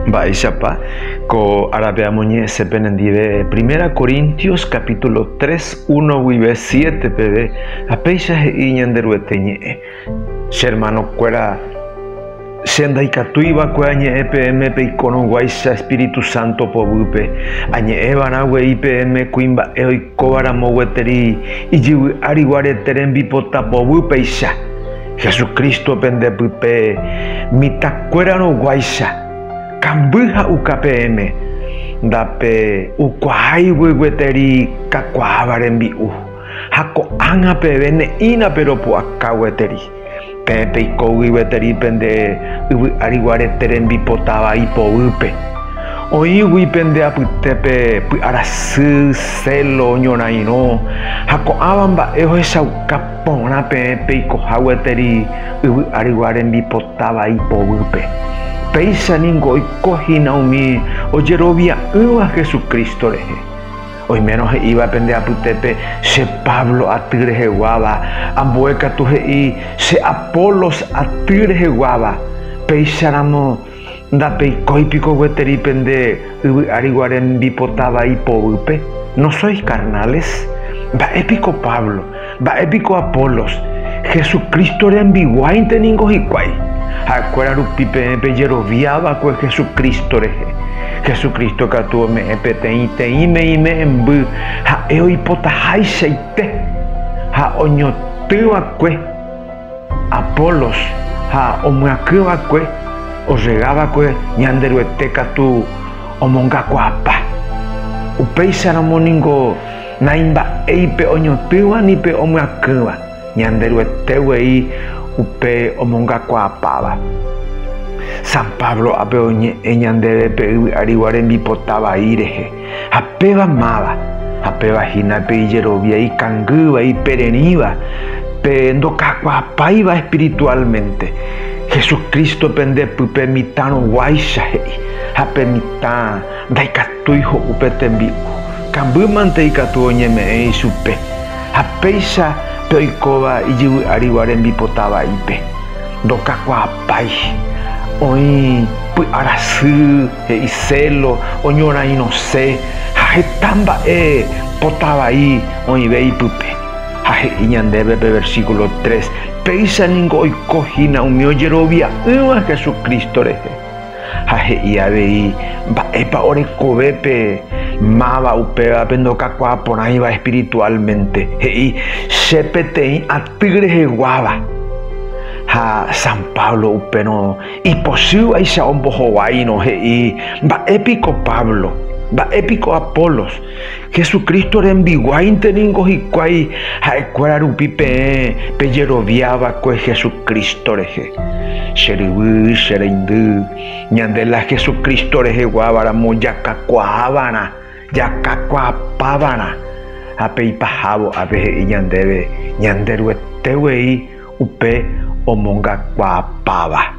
Mba'éichapa ko árape amoñe'ẽse penendive? Primera Corintios capítulo 3, 1 guive 7 peve ha péicha he'i Ñanderuete ñe'ẽ, Che hermanokuéra, che ndaikatúi va'ekue añe'ẽ peẽme peikorõguáicha espíritu sánto poguýpe, añe'ẽ va'erã guei peẽme kuimba'e oikóva ramo gueteri ijyvy'ári guarete rembipota poguýpeicha. Jesucristo pende pype mitãkuérarõguáicha, kamby ha uka peẽme, ndape ukuaáigui gueteri kakuaáva rembi'u, ha ko'ág̃a peve ne'ĩna pe ropu'aka gueteri. Peẽ peikógui gueteri pende yvy ári guarete rembipotava ipoýpe. Oĩgui pende apytépe py'arasy, celo, ñorairõ, ha ko'ãva mba'e ohechauka. Porã peẽ peikoha gueteri yvy arygua rembipota vai poguýpe. Péicha ningo oiko hína umi ojerovia'ỹva Jesucristo rehe. Oimérõ he'íva pende apytépe che Pablo aty reheguáva, ambue katu he'i che Apolos aty reheguáva, péicharamo Ndapeikói piko gueteri pende yvy ári guare hembipota vai poguýpe? No sois carnales? Mba'e piko Pablo? Mba'e piko Apolos? Hesu Crísto rembiguáinte ningo hikuái. Ha'ekuéra rupi peẽ pejerovia va'ekue Hesu Crísto rehe. Hesu Crísto katu ome'ẽ peteĩteĩ meĩme'ẽmby ha'e oipotaháichaite ha oñotỹ va'ekue. Apolos ha omyaky va'ekue orrega va'ekue Ñanderuete katu omongakuaapa. Upéicharamo ningo naimba'éi pe oñotỹva ni pe omyakýva, Ñanderuete guei upe omongakuaapáva. San Pablo ape oñe'ẽ ñandéve pe yvy'arigua rembipota vai rehe. Ha péva máva, ha péva hína pe ijerovia ikangýva, ipererĩva, pe ndoka'akuaapáiva espiritualmente, Jesucristo pende pype mitãrõguáicha he'i, ha pe mitã ndaikatúi ho'u pe tembi'u, kambýmante ikatu oñeme'ẽ ichupe, ha péicha pe oikóva ijyvy árigua rembipota vaípe, ndokakuaapái, oĩ py'arasy, he'i celo, oñorairõse ha heta mba'e pota vai oĩve ipype. Ha he'i ñandéve pe versículo tres, Péicha ningo oiko hína umi ojerovia'ỹva Hesu Crísto rehe. Ha he'i avei mba'épa orekove pe máva upévape ndokakuaa porãiva espiritualmente, he'i, Che peteĩ aty reheguáva. Ha San Pablo upérõ Ipochývaicha ombohovaírõ he'i mba'e piko Pablo, mba'e piko Apolos. Jesucristo rembiguáinte ningo hikuái ha'ekuéra rupi peẽ pejerovia va'ekue Jesucristo rehe. Che ryvy, che reindy, ñande la Jesucristo reheguáva ramo jakakuaávarã, jakakuaapávarã ha peipahávo ápe he'i ñandéve ñande Ruete guei Upe omongakuaapáva,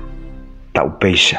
ta upéicha.